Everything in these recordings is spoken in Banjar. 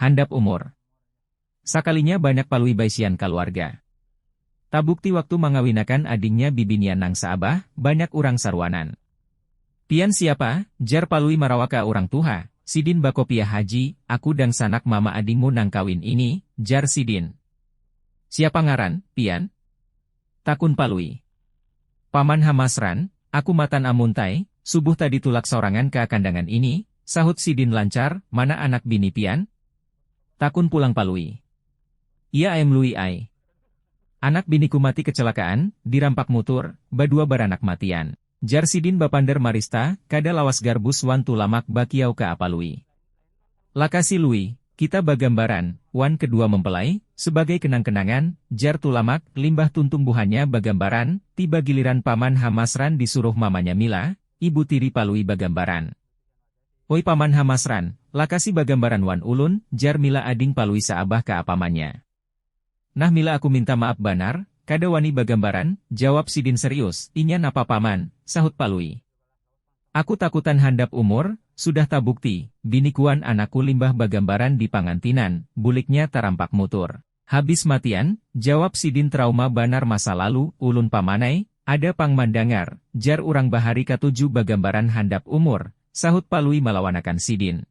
Handap umur. Sakalinya banyak Palui baisian kaluarga. Tabukti waktu mangawinakan adingnya bibinian nang saabah, banyak urang saruanan. Pian siapa? jar Palui marawa ka urang tuha. Sidin bakopiah Haji, aku dangsanak mama adingmu nang kawin ini, jar sidin. Siapa ngaran, pian? Takun Palui. Paman ha masran, aku matan amuntai, subuh tadi tulak saurangan ka kandangan ini, sahut sidin lancar, mana anak bini pian? Takun pulang Palui. Iya aem Lui ai. Anak biniku mati kecelakaan, dirampak mutur, badua baranak matian. Jar sidin bapander marista, kada lawas Garbus wan Tulamak bakiau ka apa Lui. Lakasi Lui, kita bagambaran, wan kedua mempelai, sebagai kenang-kenangan, jar Tulamak, limbah tuntung buhannya bagambaran, tiba giliran Paman Hamasran disuruh mamanya Mila, ibu tiri Palui bagambaran. Oi Paman Hamasran, lakasi bagambaran wan ulun, jar Mila ading Palui saabah ka apamanya. Nah mila aku minta maap banar, kada wani bagambaran, jawab sidin serius, inya napa paman, sahut palui. Aku takutan handap umur, sudah tabukti, binikuan anakku limbah bagambaran di pangantinan, buliknya tarampak mutur. Habis matian, jawab sidin trauma banar masa lalu, ulun pamanai, ada pang mandangar, jar urang bahari katuju bagambaran handap umur, sahut palui malawanakan sidin.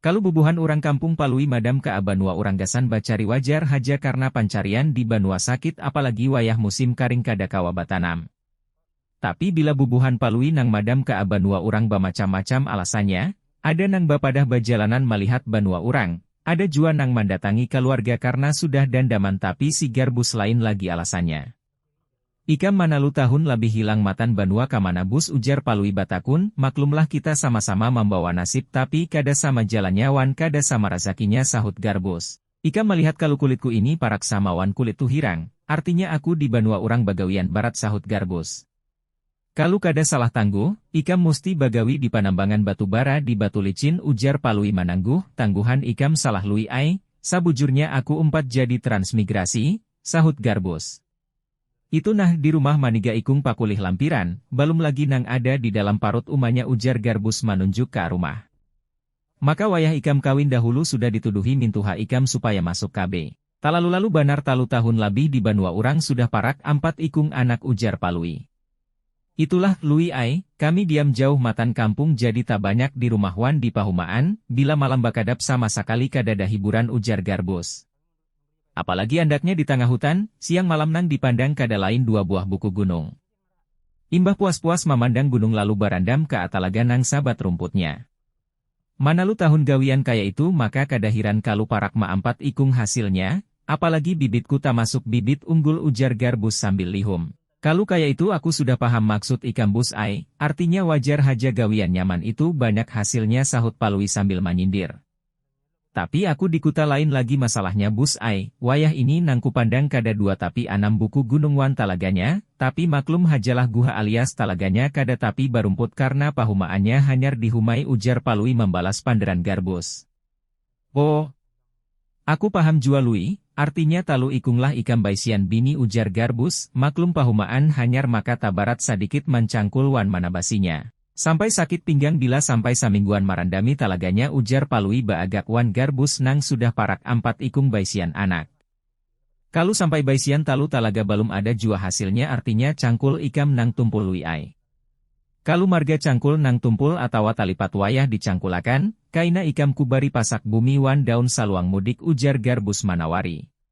Kalu bubuhan urang kampung Palui madam ka banua urang gasan bacari wajar haja karna pancarian di banua sakit apalagi wayah musim karing kada kawa batanam. Tapi bila bubuhan Palui nang madam ka banua urang bamacam-macam alasannya, ada nang bapadah bajalanan malihat banua urang, ada jua nang mandatangi kaluarga karna sudah dandaman tapi sigar bus lain lagi alasannya. Ikam manalu tahun labih hilang matan banua kamana bus ujar Palui batakun, maklumlah kita sama-sama mambawa nasib tapi kada sama jalannya wan kada sama razakinya sahut Garbus. Ikam malihat kalu kulitku ini parak sama wan kulit Tuhirang, artinya aku di banua urang bagawian barat sahut Garbus. Kalu kada salah tangguh, ikam musti bagawi di panambangan batu bara di Batu Licin ujar Palui manangguh, tangguhan ikam salah Lui ai, sabujurnya aku umpat jadi transmigrasi, Sahut Garbus. Itu nah di rumah maniga ikung pakulih lampiran, balum lagi nang ada di dalam parut umanya ujar Garbus manunjuk ka rumah. Maka wayah ikam kawin dahulu sudah dituduhi mintuha ikam supaya masuk KB. Talalu-lalu banar talu tahun labih di banua urang sudah parak ampat ikung anak ujar Palui. Itulah, Lui ai, kami diam jauh matan kampung jadi tabanyak di rumah wan di pahumaan, bila malam bakadap sama sakali kadada hiburan ujar Garbus. Apalagi andaknya di tangah hutan, siang malam nang dipandang kada lain dua buah buku gunung. Imbah puas-puas mamandang gunung lalu barandam ka atalaga nang sabat rumputnya. Manalu tahun gawian kaya itu maka kada hiran kalu parak maampat ikung hasilnya, apalagi bibitku tamasuk bibit unggul ujar Garbus sambil lihum. Kalu kaya itu aku sudah paham maksud ikam Bus ai, artinya wajar haja gawian nyaman itu banyak hasilnya sahut Palui sambil manyindir. Tapi aku di kuta lain lagi masalahnya Bus ai, wayah ini nang kupandang kada dua tapi anam buku gunung wan talaganya, tapi maklum hajalah guha alias talaganya kada tapi barumput karna pahumaannya hanyar di humai ujar Palui mambalas panderan Garbus. Oh. Aku paham jua Lui, artinya talu ikung lah ikam baisian bini ujar Garbus, maklum pahumaan hanyar maka tabarat sadikit mancangkul wan manabasinya. Sampai sakit pinggang bila sampai samingguan marandami talaganya ujar Palui baagak wan Garbus nang sudah parak ampat ikung baisian anak. Kalu sampai baisian talu talaga balum ada jua hasilnya artinya cangkul ikam nang tumpul Lui ai. Kalu marga cangkul nang tumpul atawa talipat wayah dicangkulakan, kaina ikam kubari pasak bumi wan daun saluang mudik ujar Garbus manawari.